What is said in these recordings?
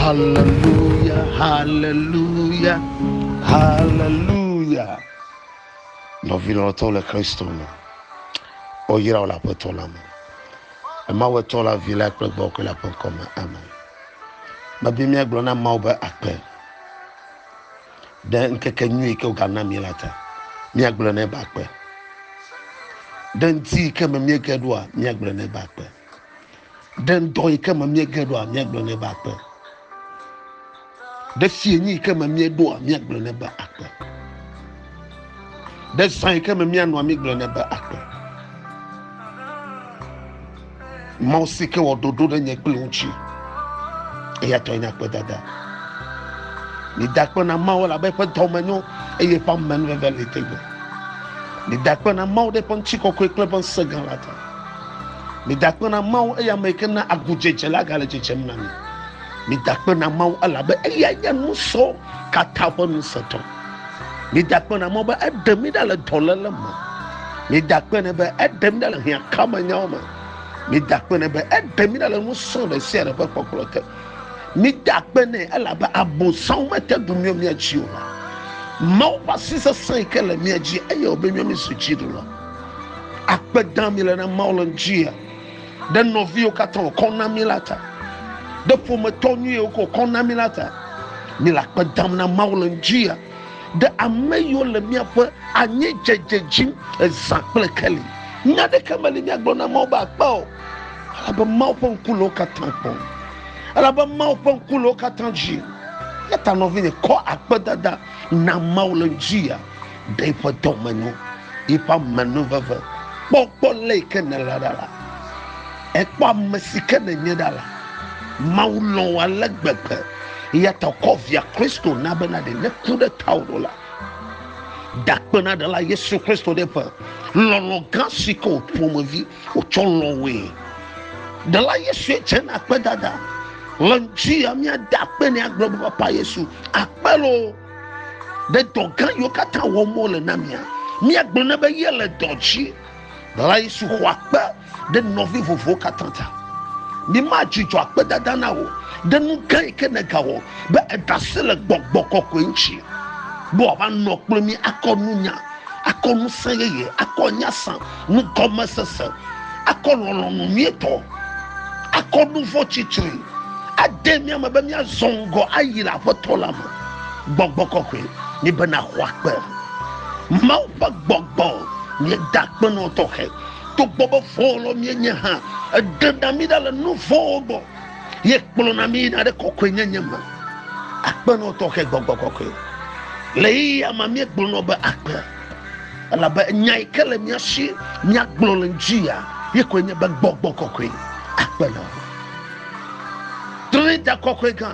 Haleluya, haleluya, haleluya. Nɔvi lɔlɔtɔ le Kristo me. Woyra wo le Aƒetɔ la me. Emawu etɔ la vi la kple gbɔ kple la ƒe ŋkɔ me. Amen. Medi míagblɔ na Mawu be akpe ɖe ŋkeke nyui yi ke wogana mí la ta. Míagblɔ nɛ be akpe. Ɖe ŋdi yi ke me míege ɖoa, míagblɔ nɛ be akpe. Ɖe ŋdɔ yi ke me míege ɖoa míagblɔ nɛ be akpe. Ɖe fie nyi yi ke me míeɖoa míagblɔ nɛ be akpe. Ɖe zã yi ke me míanɔa mígblɔ nɛ be akpe. Mawu si ke wɔ ɖoɖo ɖe nye kple ŋuti. Eya tɔe nye akpedada. Meda akpe na Mawu elabe eƒe dɔ me nyo eye eƒe amenuveve li tegbe. Meda akpe na Mawu ɖe eƒe ŋutikɔkɔe kple eƒe ŋusẽ gã la ta. Midakpe na Mawu, eye ame yike na agudzedze la gale dzedzem na mi. Midakpe na Mawu, elabe eyae nye nusɔ katã ƒe ŋusẽtɔ. Midakpe na Mawu be eɖe mi ɖa le dɔléle me. Midakpe nɛ be eɖe mi ɖa le hiãkamenyawo me. Midakpe nɛ be eɖe mi ɖa le nusɔ ɖe sia ɖe ƒe kpɔkplɔ te. Midakpe nɛ elabe abosam mete ŋu miɔ mia dzi o. Mawu ƒe asi sesẽ yike le mia dzi eye wòbe miɔ mi su dziɖuɖu la. akpe dam le na Mawu le ŋutia, ɖe nɔviwo katã wòkɔ na mí la ta, ɖe ƒometɔ nyuiwo ko wòkɔ na mí la ta. Mí le akpe dam na Mawu le ŋutia, ɖe ame yiwo le míaƒe anyidzedze dzim ezã kple keli. Nya aɖeke meli míagblɔ na Mawu be akpe o, elabe Mawu ƒe ŋku le wo katã kpɔm. Elabe Mawu ƒe ŋku le wo katã dzi. Eya ta nɔvinye, kɔ akpedada na Mawu le ŋutia. ɖe eƒe dɔmenyo, eƒe amenuveve. Kpɔ gbɔ le yi ke nèle ɖa la. Ekpɔ ame si ke nènye ɖa la. Mawu lɔ̃ wò ale gbegbe eya ta wòkɔ via Kristo na bena ɖe neku ɖe tawò ɖo la, ɖakpenaɖela Yesu Kristo ɖe ƒe lɔlɔ̃ gã si ke wò ƒomevi wòtsɔ lɔ̃ wòe. Ɖela Yesue dze na akpedada le ŋuti ya míada akpe nɛ agblɔ be, Papa Yesu, akpe loo. ɖe dɔ gã yiwo katã wɔm wole na mia míagblɔ ne be ye le dɔ dzi la yesu xɔ akpe ɖe nɔvi vovowo katã ta mímadzudzɔ akpedada na wò ɖe nu gã yi ke negawɔ be edase le gbɔgbɔ kɔkɔe ŋuti be wòava nɔ kple mí akɔ nunya akɔ ŋusẽ yeye, akɔ nyasã, nugɔmesese, akɔ lɔlɔ̃nu nyuitɔ, akɔ nu vɔ̃ tsitri, ade mía me be míazɔ ŋgɔ ayi le Aƒetɔ la me. Gbɔgbɔ kɔkɔe nye be nàxɔ akpe. Mawu ƒe gbɔgbɔ nye dakpenɔ tɔxɛ. Togbɔ be vɔ̃wɔlɔ míenye hã, eɖena mí ɖa le nu vɔ̃wo gbɔ. ye kplɔna mi yina ɖe kɔkɔenyenye me akpenɔ tɔxɛ gbɔgbɔ kɔkɔe le yeyea ma míegblɔnɔ be akpe elabe nya yi ke le mía si míagblɔ le ŋutia ye koe nye be gbɔgbɔ kɔkɔe akpenɔ trinita kɔkɔe gã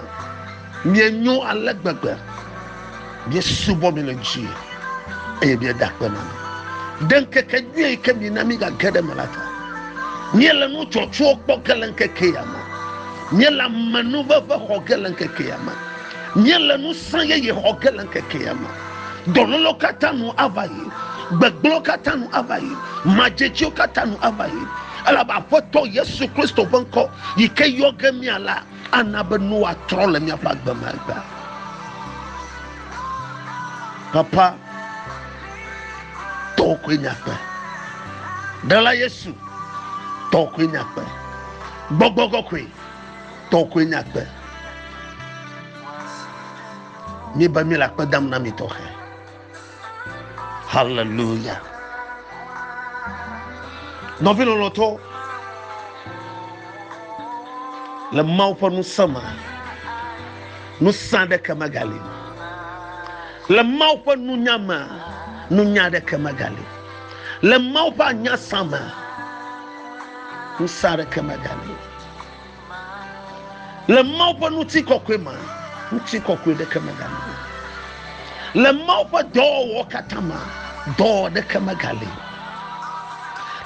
Mienyo ale gbegbe, miesubɔ mi le dzi eye mieda akpe na mi. Ɖe ŋkeke nyui yi ke mina migage ɖe me la ta. Miele nu tsɔtsɔwo kpɔ ge le ŋkeke ya me. Miele amenuveve xɔ ge le ŋkeke ya me. Miele ŋusẽ yeye xɔ ge le ŋkeke ya me. Dɔlélewo katã nu ava yi. Gbegblẽwo katã nu ava yi. Madzedziwo katã nu ava yi. Elabe Aƒetɔ Yesu Kristo ƒe ŋkɔ yi ke yɔ ge mía la, Ana be nu atrɔ le míaƒe agbe me egbea. Papa, tɔwò koe nye agbe. Ɖela Yesu, tɔwò koe nye agbe. Gbɔgbɔ kɔkɔe, tɔwò koe nye agbe. Míebe míele akpe dam na mi tɔxɛ. Hallelujah. Nɔvi lɔlɔtɔ le Mawu ƒe ŋusẽ me. Ŋusẽ aɖeke megali o. Le Mawu ƒe nunya me, nunya aɖeke megali o. Le Mawu ƒe anyasa me, ŋusẽ aɖeke megali o. Le Mawu ƒe ŋutikɔkɔe mea, ŋutikɔkɔe ɖeke megali o. Le Mawu ƒe dɔwɔwɔ katã mea, dɔwɔwɔ ɖeke megali o.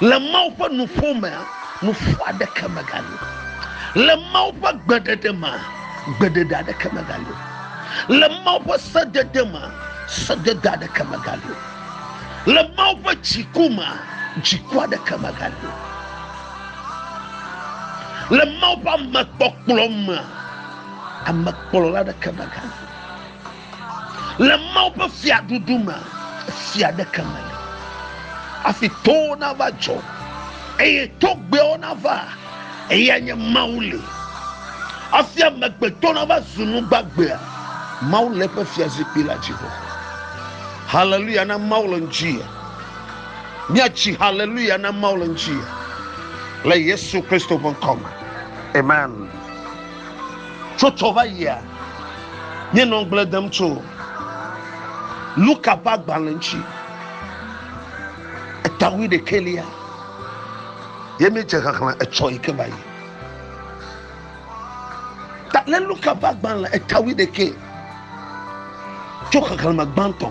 Le Mawu ƒe nuƒo mea, nuƒo aɖeke megali o. Le Mawu ƒe gbeɖeɖe mea, gbeɖeɖe aɖeke megali o. Le Mawu ƒe sedede mea, sedede aɖeke megali o. Le Mawu ƒe dziku mea, dziku aɖeke megali o. Le Mawu ƒe ame kpɔkplɔ mea, ame kplɔla ɖeke mega. Le Mawu ƒe fiaɖuɖu mea, fia ɖeke meli. Afi towo nava dzɔ eye togbɛwo nava eya nye Mawu li. Afi amegbetɔ nava zu nu gbagbea, Mawu le eƒe fiazikpui la dzi. Haleluya na Mawu le ŋuti. Míatsi haleluya na Mawu le ŋuti le Yesu Kristo ƒe ŋkɔ me. Amen. Tso tsɔ va yia, míenɔ ŋugble dem tso Luka ƒe agbalẽ ŋuti. Etawui ɖekɛlia ye míedze xexlẽ etsɔ yi ke va yi. Ta le Luka ƒe agbalẽ etawui ɖekɛ tso xexlẽme gbãtɔ.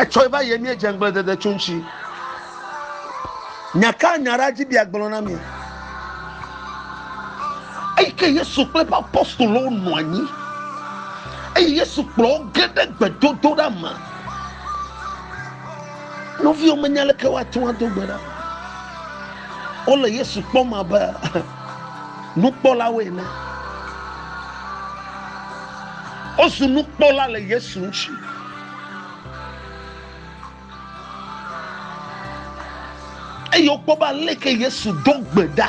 Etsɔe va yie míedze ŋgbledede tso ŋuti. Nya ka nya ɖa dzi bia gblɔ na mi? Eyi ke Yesu kple eƒe apostolowo nɔ anyi eye Yesu kplɔ wo ge ɖe gbedodoɖa me. Nɔviwo menya leke woate ŋu ado gbe ɖa. Wole Yesu kpɔm abe nukpɔlawo ene. Wozu nukpɔla le Yesu ŋuti. Eye wokpɔ be aleke Yesu ɖo gbe ɖa.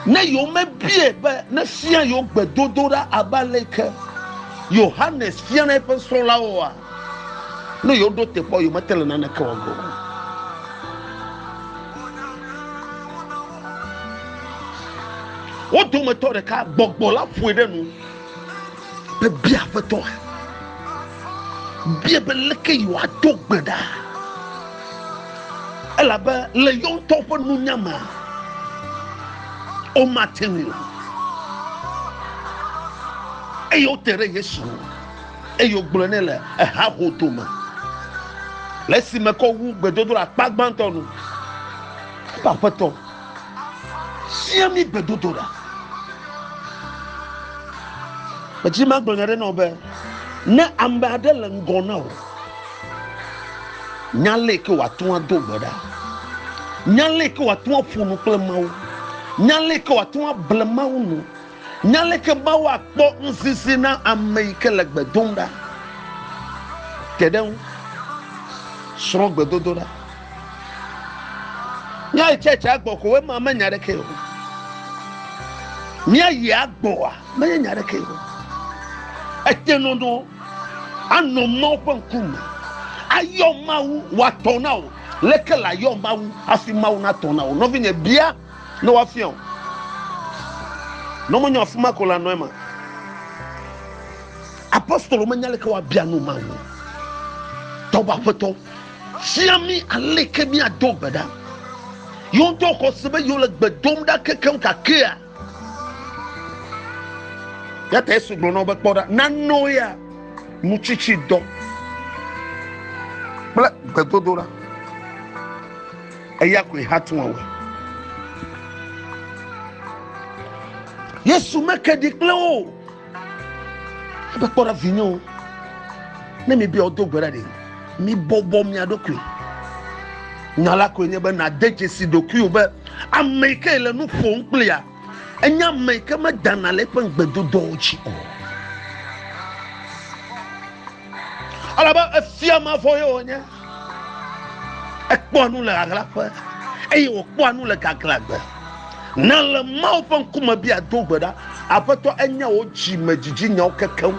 Ne yewomebie be nefia yewo gbedodoɖa abe aleke Yohanes fia na eƒe srɔ̃lawoa, Ne yewoɖo teƒe o, yewomete le naneke wɔge o. Wo dometɔ ɖeka gbɔgbɔ la ƒoe ɖe nu be bia aƒetɔa, bia be leke yewoado gbe ɖa elabe le yewo ŋutɔ ƒe nunya me womate ŋui o. Eye wote ɖe Yesu ŋu. eye wògblɔ nɛ le hahodo me le esime ke wowu gbedodoɖa akpa gbãtɔ nu. Eƒe aƒetɔ fia mí gbedodoɖa. Medi magblɔ nya aɖe na wò be ne ame aɖe le ŋgɔ na wò, nya le ke wòate ŋu ado gbe ɖa, nya le ke wòate ŋu aƒo nu kple Mawu, nya le ke wòate ŋu able Mawu nu. Nya aleke Mawu akpɔ ŋusisi na ame yi ke le gbe dom ɖa te ɖe eŋu. Srɔ̃ gbedodoɖa. Míayi tsɛtsia gbɔ ko ema menya ɖekee o. Míayi agbɔa menye nya ɖekee o. Ete nɔnɔ anɔ Mawu ƒe ŋkume ayɔ Mawu wòatɔ na wò. Leke le ayɔ Mawu hafi Mawu natɔ na wò? Nɔvinye, bia ne woafia o. Ne wonye afi ma ko la nɔ ema. Apostolo menya leke woabia nu ma o. Tɔwɔ aƒetɔ fia mi aleke miado gbe ɖa. Yewo ŋutɔ xɔ se be yewo le gbe dom ɖa kekeŋ gakea. Yata Yesu gblɔ na wo be kpɔ ɖa nanɔ ya nutsitsi dɔ kple gbedodoɖa. Eya koe hatua wɔe. Yesu meke ɖi kple wo o. Ebe kpɔ ɖa vinyewo, ne mi bia wodo gbe ɖa ɖe, mi bɔbɔ mia ɖokui. Nya la koe nye be nade dzesi ɖokui o be ame yi ke le nu ƒom kplia, enye ame yi ke medana le eƒe ŋugbedodoawo dzi o. Alabe efia mavɔ ye wònye. Ekpɔa nu le ahlaƒe eye wòkpɔa nu le gaglãgbe. Na le Mawu ƒe ŋkume bia do gbe ɖa. Aƒetɔ enya wò dzimedzidzi nyawo kekeŋ.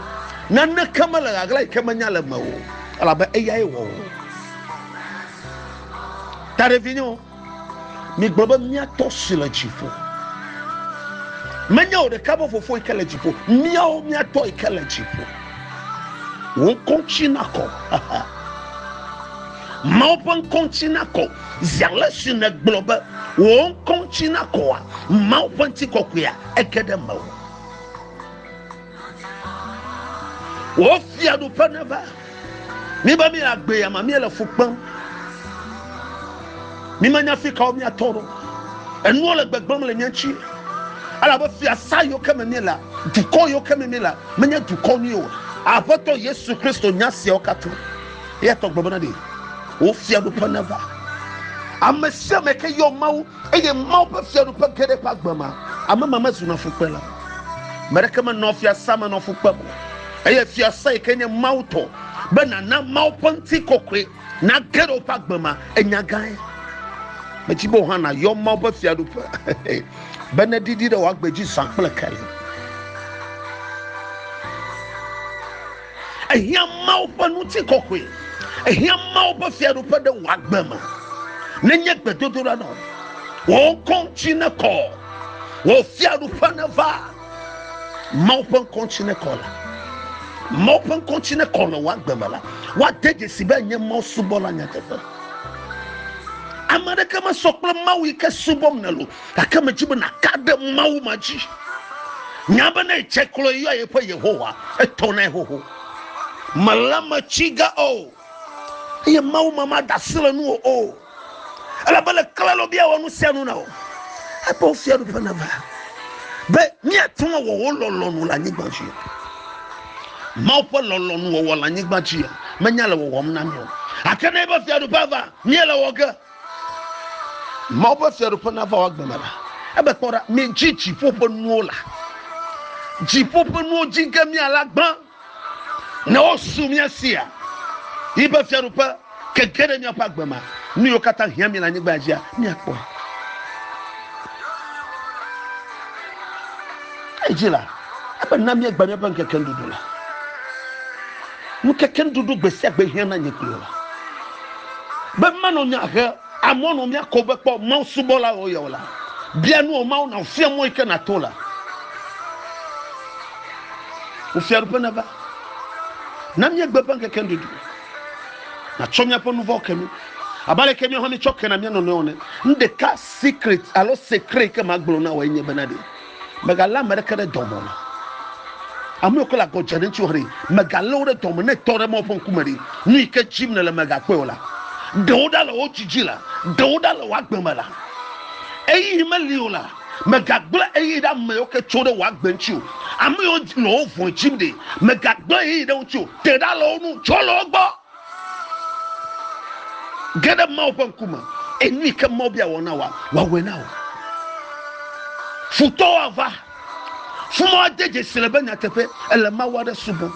Naneke mele ɣaɣla yi ke menya le eme o, elabe eyae wɔ wò. Taɖevinyewo. Migblɔ be, Mía Tɔ si le dziƒo. Menye wò ɖeka be Fofo yi ke le dziƒo, míawo mía Tɔ yi ke le dziƒo. Wò ŋkɔ ŋuti nakɔ. Mawu ƒe ŋkɔ ŋuti nakɔ. Zi ale si nègblɔ be wò ŋkɔ ŋuti nakɔa, Mawu ƒe ŋutikɔkɔea ege ɖe mewò. Wò fiaɖuƒe neva. Míbe míagbe ya ma míele fu kpem. Mímenya fi kawo míatɔ ɖo. Enuwo le gbegbem le mía ŋuti. Elabe fiasa yiwo ke me míele, dukɔ yiwo ke me míele, menye dukɔ nyui o. Aƒetɔ Yesu Kristo nya siawo katã. Eya tɔ gbe bena ɖe wò fiaɖuƒe neva. Ame sia ame ke yɔ Mawu Eye Mawu ƒe fiaɖuƒe ge ɖe eƒe agbe me. Ame ma mezuna fukpela o. Ame aɖeke menɔa fiasã me nɔ fu kpem o. Eye fiasã yi ke nye Mawu tɔ, be nàna Mawu ƒe ŋutikɔkɔe nage ɖe woƒe agbe me, enya gãe. Medi be wò hã nàyɔ Mawu ƒe fiaɖuƒe be neɖiɖi ɖe wò agbe dzi zã kple kali. Ehiã Mawu ƒe ŋutikɔkɔe. Ehiã Mawu ƒe fiaɖuƒe ɖe wò agbe me. Nenye gbedodoɖa nɔ wò ŋkɔ ŋuti nekɔ, wò fiaɖuƒe neva. Mawu ƒe ŋkɔ ŋuti nekɔ la. Mawu ƒe ŋkɔ ŋuti nekɔ le wò agbe me la. Woade dzesi be enye Mawu subɔla nyateƒe. Ame aɖeke mesɔ kple Mawu yi ke subɔm nèle o. gake medzi be nàka ɖe mawu ma dzi nya be ne dze klo yɔa yeƒe yehowa etɔnae xoxo mele me tsi ga o eye mawu ma mada asi le nuwo o ele be le klalo bia wɔ nu sia nu na o ebe wofia ɖuƒe na va be míate ŋu awɔ wo lɔlɔnu le anyigba dzi mawu ƒe lɔlɔnu wɔwɔ le anyigba dzi menya le wɔwɔm na mi o gake ne ebe fiaɖuƒe va míele wɔ ge Mawu ƒe fiaɖuƒe nava wò agbe me la. Ebe kpɔ ɖa, midzi dziƒo ƒe nuwo la. Dziƒo ƒe nuwo dzi ge miale agbã, ne wosu mia sia. Yi be fiaɖuƒe keke ɖe miaƒe agbe me, nu yiwo katã hiã mi le anyigba dzia, miakpɔe. Edzi la, ebe na miegba miaƒe ŋkeke nuɖuɖu la. Ŋutete nuɖuɖu gbe sia gbe hiã na nye kplɔla. Be manɔ nya he amewo nɔ mía ko be kpɔ Mawu subɔlawo ye o la, bia nu wò Mawu nàfia mɔ yi ke nàto la. Wò fiaɖuƒe neva. Na míegbe eƒe ŋkeke nuɖuɖu. Nàtsɔ míaƒe nu vɔ̃wo ke mí. Abe ale ke míawo hã míetsɔ kena mía nɔnɔewo ene. Nu ɖeka secret alo secret yi ke magblɔ na wòe nye bena ɖe. Mègalé ame aɖeke ɖe dɔme o. Ame yiwo ke le agɔ dze ɖe ŋutiwò haɖe, mègalé wo ɖe dɔme o. Ne ètɔ ɖe Mawu ƒe ŋkume ɖe, nu yi ke dim nèle mègakpɔe o la, ɖe wo ɖa le wò dzi dzi la, ɖe wo ɖa le wò agbe me la, ɣeyiɣi meli o la, mègagblẽ ɣeyiɣi ɖe ame yiwo ke tso ɖe wò agbe ŋuti o. Ame yiwo le wò vɔ̃e dim ɖe, mègagblẽ ɣeyiɣi ɖe wo ŋuti o. Te ɖa le wo ŋu, tsɔ le wo gbɔ. Ge ɖe Mawu ƒe ŋkume, eye nu yi ke Mawu bia wɔ na wòa, wòawɔe na wò. Futɔwo ava, fuma woade dzesi le be nyateƒe ele Mawu aɖe subɔm.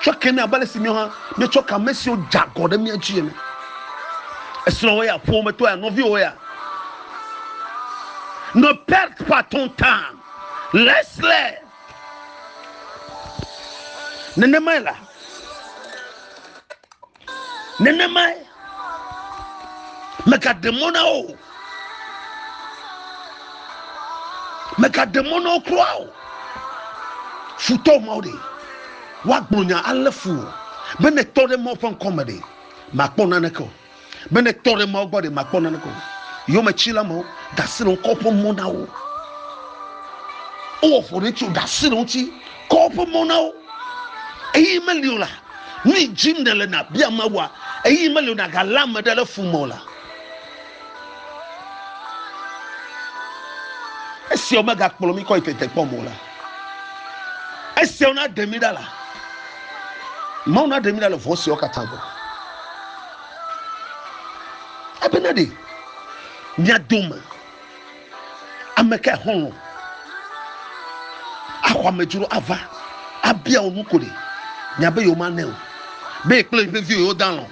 Tsɔ ke nɛ abe ale si míawo hã míetsɔ ke ame siwo dze agɔ ɖe mía dzi ene. Esrɔ̃wò ya, ƒometɔ ya, nɔviwò ya. Ne perte pas ton temps, laisse-les. nenemae la nenemae mègaɖe mɔ na wo o mègaɖe mɔ na wo kura o futɔ mawo ɖe woagblɔ nya alé fu o be ne tɔ ɖe mawo ƒe ŋkɔ me ɖe màkpɔ naneke o Be ne tɔ ɖe Mawu gbɔ ɖe makpɔ nane ko. Yometsila mawo ɖasi le ŋu kɔ ƒe mɔ na wo. Wowɔ ƒo ɖe ŋuti ɖasi le ŋuti kɔ ƒe mɔ na wo. Eyi meli o la, nu yi dzim ne le na bia Mawua. Eyi meli o na galé ame ɖe le fun mɔ la. Esia megakplɔ mi kɔ yi tete kpɔ mɔ la. esiawo na ɖe mi ɖa la mawu na ɖe mi ɖa le vɔ siawo katã gbɔ ebena ɖe mia dome ame ka xɔlɔ axɔ amedzro ava abia wo nu ko ɖe miabe yewo manɛ o be ekple eƒe viwo yewo dalɔ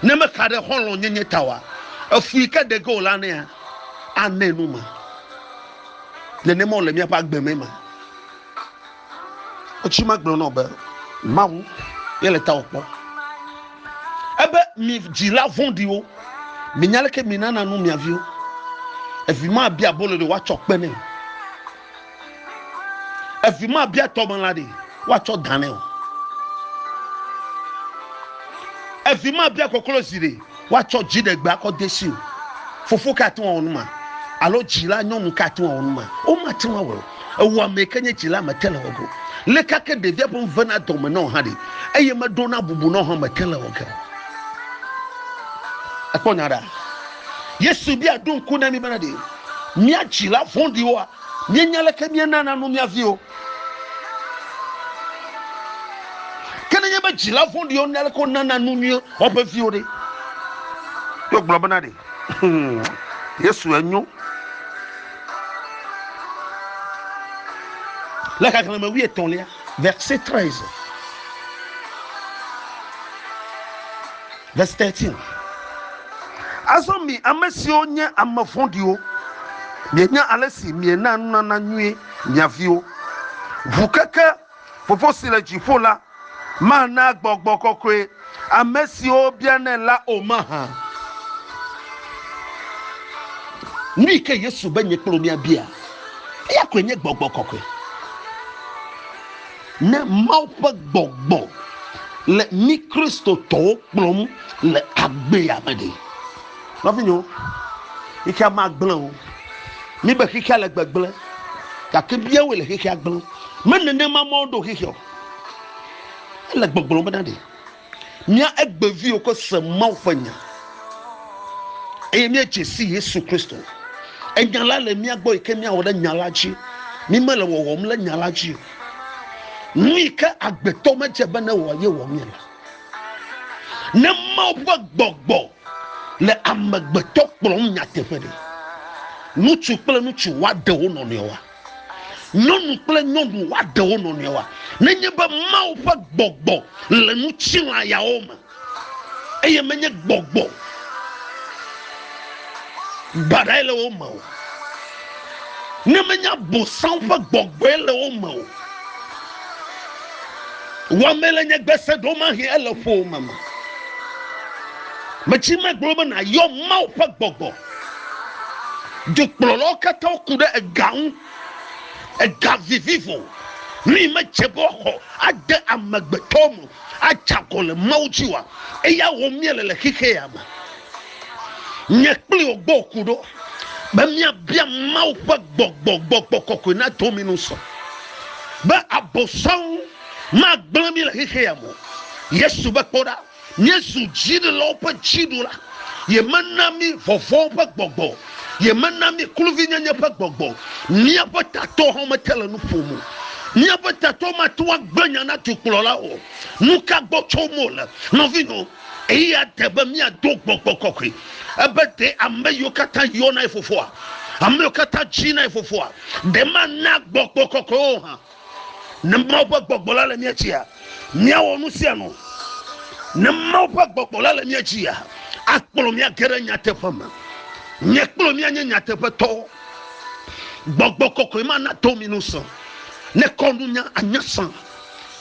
ne mexa ɖe xɔlɔ nyenye ta wa efu yi ke ɖege o la nea anɛ nu ma. nenema wòle míaƒe agbe me ma. Wotsi ma gblɔ nɔ be Mawu ye le tawò kpɔ. Ebe mi dzila vɔ̃ɖiwo, minya leke minana nu mia viwo. Evi ma bia abolo ɖe woatsɔ kpe nɛ o. Evi ma bia tɔmelã ɖe woatsɔ da nɛ o. Evi ma bia koklozi ɖe woatsɔ dziɖegbe akɔ de si o. Fofo ka ate ŋu awɔ numa? Alo dzila nyɔnu ka ate ŋu awɔ numa? Womate ŋu awɔe o. Ewɔamee ke nye dzila mete le wɔ ge o. Leke ke ɖevia ƒe nu vena dɔme nɛ o hã ɖe, eye meɖona bubu nɛ o hã mete le wɔ ge o. Ekpɔ nya ɖa. Yesu bia ɖo ŋku na mí bena ɖe mía dzila vɔ̃ɖiwoa, míenya leke míanana nu mía viwo. Ke nenye be dzila vɔ̃ɖiwo nya aleke wonana nu nyuie woƒe viwo ɖe, yewo gblɔ bena ɖe hmm, Yesu enyo. Le xexlẽme wuietɔ̃lia, verse 13. Verse thirteen, Azɔ mi ame siwo nye ame vɔ̃ɖiwo, mienya ale si mienaa nunana nyui mia viwo. Ŋu keke Fofo si le dziƒo la mana gbɔgbɔ kɔkɔe ame siwo bianɛ la o mahã. Nui ke Yesu be nye kple wò míabia, eya koe nye gbɔgbɔ kɔkɔe. Ne Mawu ƒe gbɔgbɔ le mí Kristotɔwo kplɔm le agbea me ɖe? Nɔvinyewo, xexea magblẽ o. Míbe xexea le gbegblẽ, gake míawoe le xexea gblẽm. Menenema Mawu ɖo xexea o. Ele gbɔgblɔm bena ɖe Mía egbeviwo ke se Mawu ƒe nya eye míedze si Yesu Kristo. Enya la le mía gbɔ yi ke míawɔ ɖe nya la dzi. Mí mele wɔwɔm le nya la dzi o. Nu yi ke agbetɔ medze be ne wɔ ye wɔ mí la. Ne Mawu ƒe gbɔgbɔ le amegbetɔ kplɔm nyateƒe ɖe, ŋutsu kple ŋutsu woaɖe wo nɔnɔewoa? Nyɔnu kple nyɔnu woaɖe wo nɔnɔewoa? Nenye be Mawu ƒe gbɔgbɔ le ŋutilã yawo me, eye menye gbɔgbɔ baɖae le wo me o, ne menye Abosam ƒe gbɔgbɔe le wo me o, wɔmee le nye gbese ɖomahĩ ele ƒowòme me. Metsi megblɔ be nàyɔ Mawu ƒe gbɔgbɔ. Dukplɔlawo katã ku ɖe ega ŋu. Ega vivivo nui medze be woaxɔ ade amegbetɔwo me adze agɔ le Mawu dzi oa? Eya wɔm míele le xexea me. Nye kpli wò gbɔ ku ɖo be míabia Mawu ƒe gbɔgbɔ, gbɔgbɔ kɔkɔe nado mí nu sɔ be Abosam magblẽ mí le xexea me o. Yesu be, Kpɔ ɖa! Míezu dziɖulawo ƒe dziɖula. Yemena mí vɔvɔ̃ ƒe gbɔgbɔ o. Yemena mí kluvinyenye ƒe gbɔgbɔ o. Míaƒe tatɔ hã mete le nu ƒom o. Míaƒe tatɔ mate ŋu agblẽ nya na dukplɔlawo o. Nu ka gbɔ tsom wole? Nɔvinyɔwo, ɣeyiɣia de be míado gbɔgbɔ kɔkɔe. Ebe ɖe ame yiwo katã yɔna ye fofoa, ame yiwo katã dzina ye fofoa, ɖe mana gbɔgbɔ kɔkɔe wo hã. Ne Mawu ƒe gbɔgbɔ la le mía dzia, míawɔ nu sia nu. Ne Mawu ƒe gbɔgbɔ la le mía dzia, akplɔ mía ge ɖe nyateƒe me. Nye kple mía nye nyateƒetɔwo. Gbɔgbɔ kɔkɔe ma nato mi ŋusẽ. Ne kɔnunya anye sã,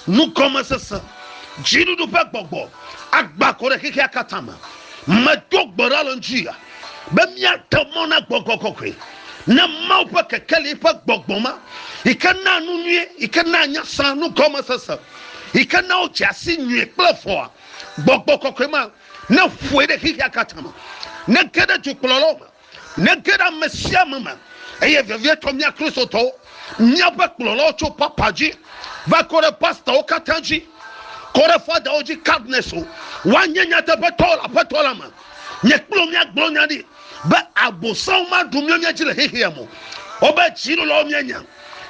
nugɔmesese, dziɖuɖu ƒe gbɔgbɔ agbã kɔ ɖe xexea katã me. Medo gbe ɖa le ŋuti ya. be míate mɔ na gbɔgbɔ kɔkɔe na Mawu ƒe kekeli ƒe gbɔgbɔ ma yi ke naa nu nyuie, yi ke naa nya sã, nu gɔmesese, yi ke naa wodze asi nyuie kple vɔ̃a. Gbɔgbɔ kɔkɔe ma neƒoe ɖe xexea katã me, nege ɖe dzokplɔlawo me, nege ɖe ame sia ame me, eye vevietɔ mía Kristotɔwo, míaƒe kplɔlawo tso papa dzi va kɔ ɖe pastawo katã dzi, kɔ ɖe fadawo dzi, cardinals, woanye nyateƒetɔwo le Aƒetɔ la me. Nye kplɔ míagblɔ nya ɖi be abosam maɖu mía mía dzi le xexea me. Wobe dzilɔlawo míanya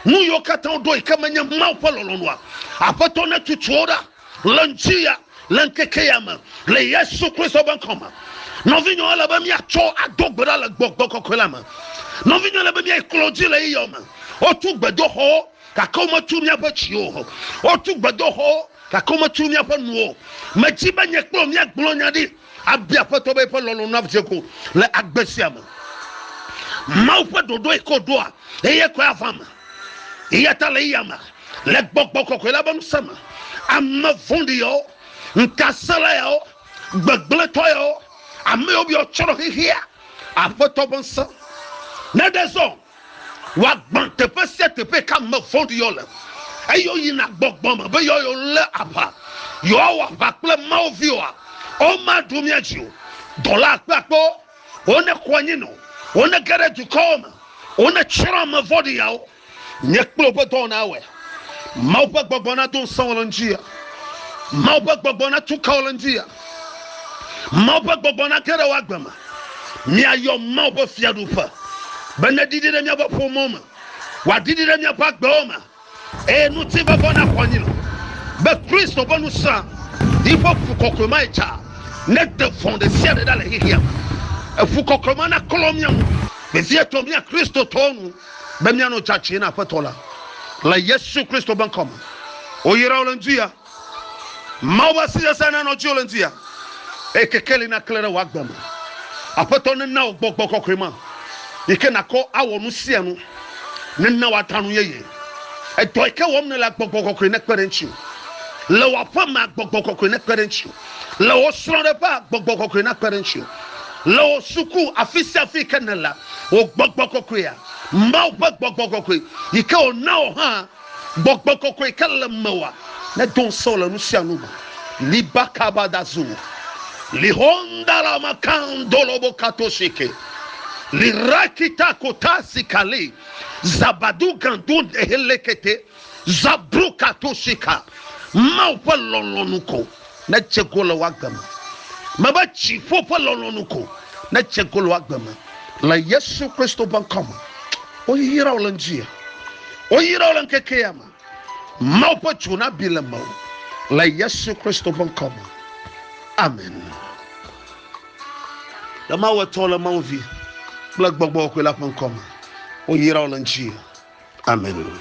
nu yiwo katã woɖo yi ke menye Mawu ƒe lɔlɔ̃nua. Aƒetɔ netutu wo ɖa le ŋdi ya le ŋkeke ya me le Yesu Kristo ƒe ŋkɔ me. Nɔvinyewo ele be míatsɔ ado gbe ɖa le gbɔgbɔ kɔkɔe la me. Nɔvinyewo ele be míayi kplɔ dzi le yeyɔ me. Wotu gbedoxɔwo gake wometu míaƒe dziwo o. Wotu gbedoxɔwo. Gake wometu míaƒe nu o. Medi be nye kple wò míagblɔ nya ɖi abia Aƒetɔ be eƒe lɔlɔ̃ nadze go le agbe sia me. Mawu ƒe ɖoɖoe ko ɖoa eye koe ava eme. Eya ta le eya me, le gbɔgbɔ kɔkɔe la ƒe ŋusẽ me, ame vɔ̃ɖi yawo, ŋutasẽla yawo, gbegblẽtɔ yawo, ame yawo biɔ tsrɔ̃ xexea, Aƒetɔ ƒe ŋusẽ naɖe zɔ Wòagbã teƒe sia teƒe ka ame vɔ̃ɖi yɔ le, eye woyina gbɔgbɔ me be yewoayɔ lé aʋa. Yewoawɔ aʋa kple Mawu viwoa? Womaɖo mía dzi o. Dɔla akpeakpewo, wonekɔ anyi nɔ, wonege ɖe dukɔwo me, wonetsrɔ̃ ame vɔ̃ɖi yawo. Nye kple wò ƒe dɔwɔnae awɔe. Mawu ƒe gbɔgbɔ na do ŋusẽ wò le ŋuti ya. Mawu ƒe gbɔgbɔ na tu kawo le ŋuti ya. Mawu ƒe gbɔgbɔ na ke ɖe wò agbe me. Míayɔ Mawu ƒe fiaɖuƒe be ne ɖiɖi ɖe míaƒe ƒomewo me, wòaɖiɖi ɖe míaƒe agbewo me, eye ŋutifafɔ na xɔ anyi le be Kristo ƒe ŋusẽ yi ƒe fu kɔkɔe ma yi tsa ne de vɔ̃ ɖe sia ɖe ɖa le xexea me. Efu kɔkɔe ma na klɔ mía ŋu vevietɔ mía Kristotɔwo nu. be míanɔ dzadzɛ na Aƒetɔ la le Yesu Kristo ƒe ŋkɔ me. Woyra wò le ŋdi ya. Mawu ƒe asi sesẽ nanɔ dziwò le ŋdi ya. Eye kekeli naklẽ ɖe wò agbe me. Aƒetɔ nena wò gbɔgbɔ kɔkɔe ma yi ke nakɔ awɔ nu sia nu. Nena wòada nu yeye. Edɔ yi ke wɔm nèlea, gbɔgbɔ kɔkɔe nekpe ɖe eŋuti. Le wò aƒe mea, gbɔgbɔ kɔkɔe nekpe ɖe eŋuti. Le wò srɔ̃ɖeƒea, gbɔgbɔ kɔkɔe nakpe ɖe ŋutiwò. Le wò suku, afi sia afi yi ke nèlea, wò gbɔgbɔ kɔkɔea, Mawu ƒe gbɔgbɔ kɔkɔe, yi ke wòna wò hã, gbɔgbɔ kɔkɔe yi ke le mewòa, nedo ŋusẽ wò le nu sia nu me. Liba kaba da zu. Lihondala makandolobo katoshike. Lirakita kotasi kali. Zabadu gandu dehelekete. Zabroka Tosika, Mawu ƒe lɔlɔ̃nu ko nedze go le wò agbe me. Mebe dziƒo ƒe lɔlɔ̃nu ko nedze go le wò agbe me. Le Yesu Kristo ƒe ŋkɔ me, woyra wò le ŋdi ya. Woyra wò le ŋkeke ya me. Mawu ƒe dzo nabi le mewò le Yesu Kristo ƒe ŋkɔ me. Amen. Le Mawu etɔ le Mawu vi kple gbɔgbɔ kɔe la ƒe ŋkɔ me, woyra wò le ŋdi ya. Amen.